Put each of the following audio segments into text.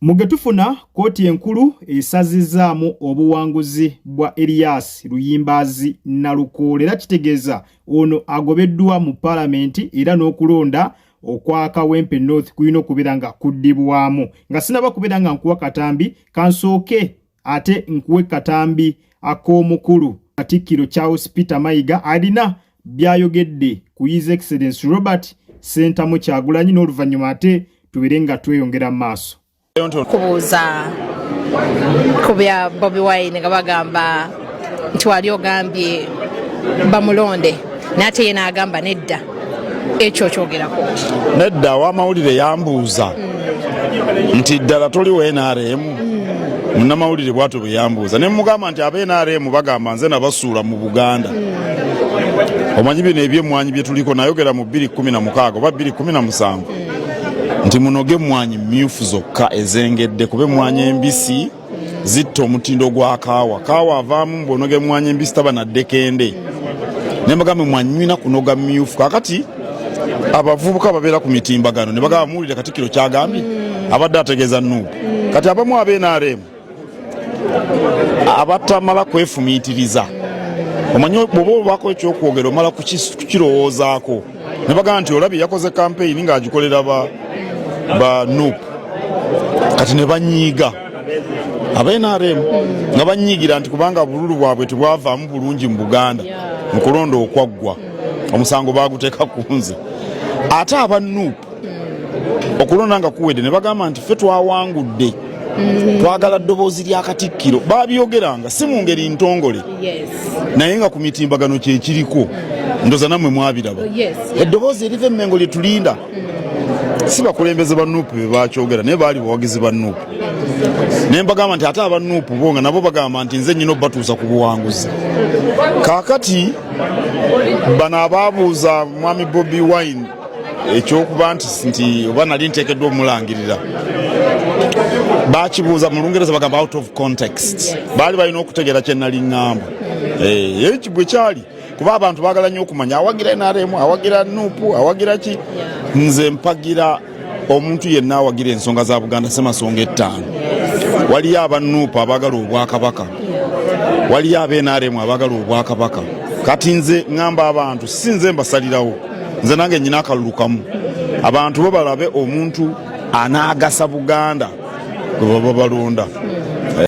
Mu ge tufuna, kkooti enkulu esazizzaamu obuwanguzi bwa Erias Luyimbaazi Nalukoola era kitegeeza ono agobeddwa mu palamenti era n'okulonda okwa Kawempe North kulina okubeera nga kuddibwamu. Nga sinaba kubeera nga nkuwa katambi, kansooke ate nkuwe katambi ak'omukulu katikkiro charles peter mayiga alina byayogedde ku his excellence robert sentamu kyagulanyi n'oluvannyuma ate tubere nga tweyongera mu maaso kubuuza ku bya bobi wine nga bagamba nti wali ogambye bamulonde naye ate yena agamba nedda ekyo okyogerako nedda wamawulire yambuuza hmm. nti ddala toli wa nrm hmm. munamawulire bwatyo bwe yambuuza ne mugamba nti aba nrm bagamba nze nabasuula mu buganda hmm. omanyi bino ebyemwanyi byetuliko nayogera mu 216 oba 217 nti munoge emwanyi myufu zokka ezengedde kuba emwanyi embisi zitta omutindo gwa kaawa kaawa avaamu mbwonoga emwanyi embisi taba naddekende naye mbagambe mwanywina kunoga myufu kakati abavubuka babeera ku mitimbagano ne bagamba muwulire katikiro kyagambye abadde ategeeza nuupu kati abamu abenrm abatamala kwefumiitiriza omanyi bwoba obaako ekyokwogera omala kukirowoozaako ne bagamba nti olabye yakoze kampeyini ng'agikolera ba ba nup kati ne banyiiga aba nrm nga banyiigira nti kubanga bululu bwabwe tebwavaamu bulungi mu buganda mu kulonda okwaggwa omusango baaguteeka ku nze ate aba nup okulonda nga kuwedde ne bagamba nti ffe twawangudde mm. twagala ddoboozi lya katikkiro babyogeranga si mu ngeri ntongole naye nga ku mitimbagano kyekiriko ndoza namwe mwabiraba oh, eddoboozi eriva emmengo lyetulinda mm. si bakulembeze ba nuupu be bakyogera naye baali bawagizi ba nuupu naye mbagamba nti ate aba nuupu bo nga nabo bagamba nti nze nyina obatuusa ku buwanguzi kaakati bano abaabuuza mwami bobi wine ekyokuba nti nti oba nali nteekeddwa omulangirira bakibuuza mu lungereza bagamba out of context baali balina okutegeera kyenali ŋŋamba eh, ye kibwe kyali kuba abantu baagala nnyo okumanya awagira nrm awagira nupu awagira ki nze mpagira omuntu yenna awagira ensonga za buganda semasonga ettaano waliyo abanupu abaagala obwakabaka waliyo abenrm abaagala obwakabaka kati nze ŋŋamba abantu si nze mbasalirawo nze nange nyina akalulu kamu abantu bo balabe omuntu anaagasa buganda gwe baba balonda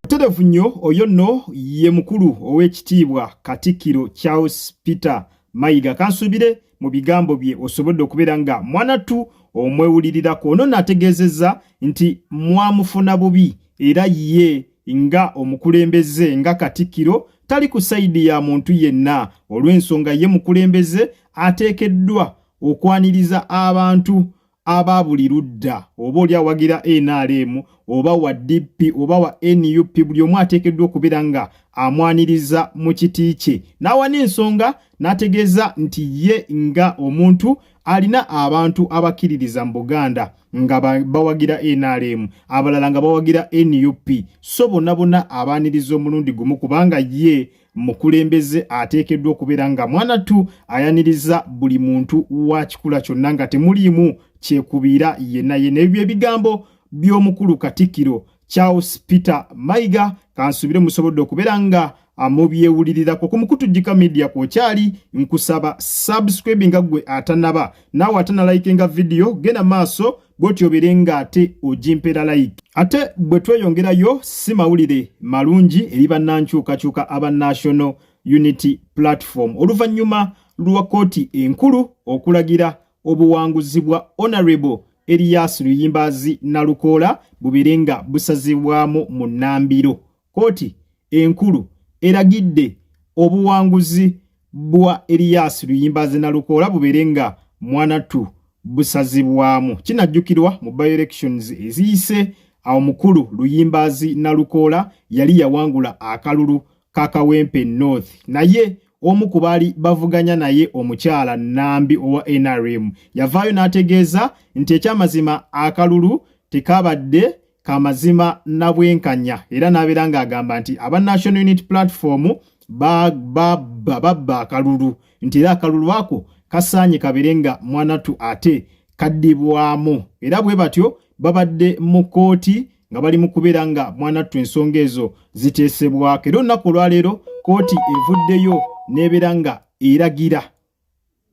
muterevu nnyo oyo nno ye mukulu ow'ekitiibwa katikkiro charles peter mayiga kansuubire mu bigambo bye osobodde okubeera nga mwanattu omwewulirirako ono naategeezezza nti mwamufuna bubi era ye nga omukulembeze nga katikkiro tali ku sayidi ya muntu yenna olw'ensonga ye mukulembeze ateekeddwa okwaniriza abantu aba buli ludda oba oli awagira nrm oba wa dp oba wa nup buli omu ateekeddwa okubeera nga amwaniriza mu kiti kye n'awa n'ensonga n'ategeeza nti ye nga omuntu alina abantu abakkiririza mu buganda nga bawagira nrm abalala nga bawagira nup so bonna bonna abaaniriza omulundi gumu kubanga ye mukulembeze ateekeddwa okubeera nga mwanattu ayaniriza buli muntu wa kikula kyonna nga temuliimu kyekubiira yenna yenna ebyo ebigambo by'omukulu katikkiro charles peter mayiga kansuubire musobodde okubeera nga amubyewulirirako ku mukutujjika media kwokyali nkusaba subscribinga gwe atanaba naawe atanalayikenga vidiyo genda maaso bwotyo obeere nga ate ogimpera like ate bwe tweyongerayo si mawulire malungi eri bannankyukakyuka aba national unity platform oluvannyuma lwa kkooti enkulu okulagira obuwanguzi bwa honorable eriyas luyimbaazi nalukoola bubeere nga busazibwamu mu nnambiro Kkooti enkulu eragidde obuwanguzi bwa Elias Luyimbazi Nalukoola bubeere nga mwanatu busazibwamu. Kinajjukirwa mu by-elections eziyise awo mukulu Luyimbazi Nalukoola yali yawangula akalulu ka Kawempe North naye omu ku baali bavuganya naye omukyala Nambi owa NRM yavaayo n'ategeeza nti ekyamazima akalulu tekabadde kamazima na bwenkanya era n'abeera ng'agamba nti aba National Unity Platform babba akalulu nti era akalulu ako kasaanye kabeere nga mwanatu ate kaddibwamu era bwe batyo babadde mu kkooti nga bali mu kubeera nga mwanattu ensonga ezo ziteesebwako era olunaku olwaleero kkooti evuddeyo n'ebeera nga eragira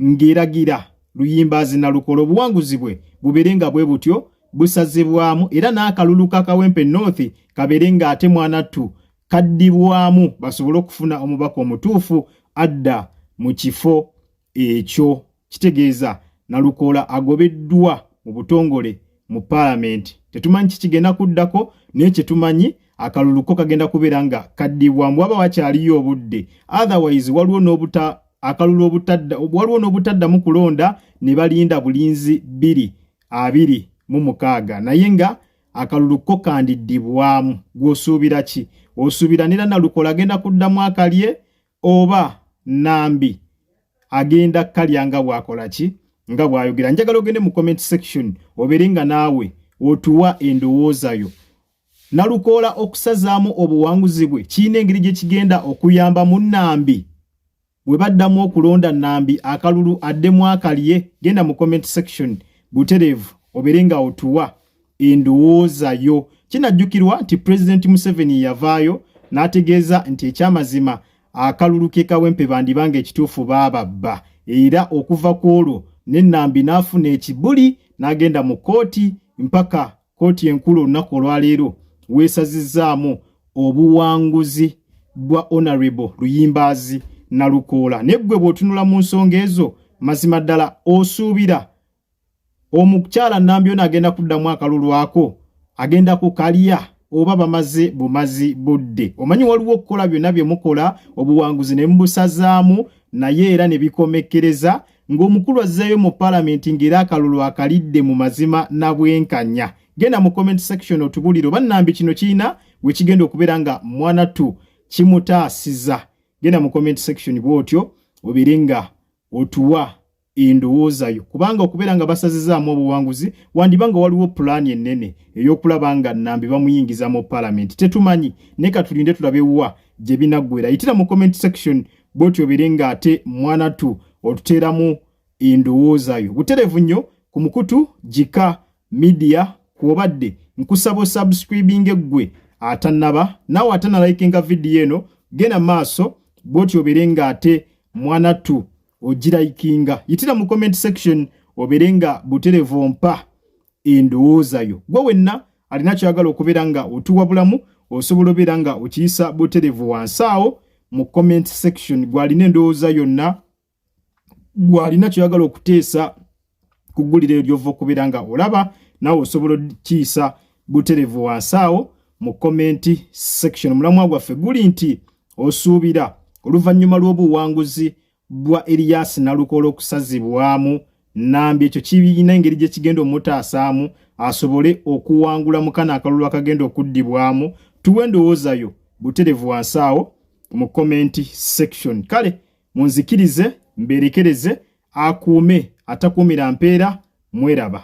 ng'eragira luyimbaazi na lukola obuwanguzi bwe bubeere nga bwe butyo busazibwamu era n'akalulu ka kawempe north kabeere ng'ate mwanattu kaddibwamu basobole okufuna omubaka omutuufu adda mu kifo ekyo kitegeeza nalukoola agobeddwa mu butongole mu paalamenti tetumanyi kikigenda kuddako naye kyetumanyi akaluluko kagenda kubeera nga kaddibwamu waba wakyaliyo obudde otherwise waliwo n'obuta akalulu obutadda waliwo n'obutaddamu kulonda ne balinda bulinzi bbiri abiri mu mukaaga naye nga akalulu ko kandiddibwamu gw'osuubira ki osuubira nera nalukola agenda kuddamu akalye oba nambi agenda kalya nga bwakola ki nga bwayogera njagala ogende mu comment section obeere nga naawe otuwa endowooza yo Nalukoola okusazaamu obuwanguzi bwe kirina engeri gye kigenda okuyamba mu Nambi bwe baddamu okulonda Nambi akalulu addemu akalye genda mu comment section butereevu obeere nga otuwa endowooza yo kinajjukirwa nti pulezidenti museveni yavaayo n'ategeeza nti ekyamazima akalulu ke kawempe bandiba nga ekituufu baababba era okuva ku olwo ne nambi n'afuna ekibuli n'agenda mu kkooti mpaka Kkooti enkulu olunaku olwaleero weesazizzaamu obuwanguzi bwa Honorable Luyimbaazi Nalukoola. Naye ggwe bw'otunula mu nsonga ezo mazima ddala osuubira omukyala Nambyona agenda kuddamu akalulu ako agenda kukalya oba bamaze bumazi budde. Omanyi waliwo okukola byonna bye mukola obuwanguzi ne mubusazaamu naye era ne bikomekkereza ng'omukulu azzeeyo mu palamenti ng'era akalulu akalidde mu mazima na bwenkanya genda mu comment section otubulire oba nambi kino kirina we kigenda okubeera nga mwana tu kimutaasiza genda mu comment section bw'otyo obeere nga otuwa endowooza yo kubanga okubeera nga basazizaamu obuwanguzi wandiba nga waliwo pulaani ennene ey'okulaba nga nambi bamuyingiza mu palamenti tetumanyi naye katulinde tulabe wa gye binaggwera yitira mu comment section bwotyo biri ng'ate mwanattu otuteeramu endowooza yo buterevu nnyo ku mukutu gika midiya kwobadde nkusaba osubscribinga eggwe atannaba naawe atanalayikinga vidiyo eno genda maaso bwotyo obeere ng'ate mwanattu ogirayikinga yitira mu comment section obeere nga buterevu ompa endowooza yo gwe wenna alina kyagala okubeera nga otuwabulamu osobola obeera nga okiyisa buterevu wansi awo mu comment section gwalina endowooza yonna gwalina kyoyagala okuteesa ku ggulira eyo lyova okubeera nga olaba nawe osobola okiyisa buterevu wansi awo mu comment section mulamwa gwaffe guli nti osuubira oluvannyuma lw'obuwanguzi bwa Elias Nalukoola okusazibwamu Nambi ekyo kibirina engeri gye kigenda omutaasaamu asobole okuwangula mu kano akalulu akagenda okuddibwamu tuwe endowooza yo buterevu wansi awo mu komenti section kale munzikirize mbeerekereze akuume atakuumira mpeera mweraba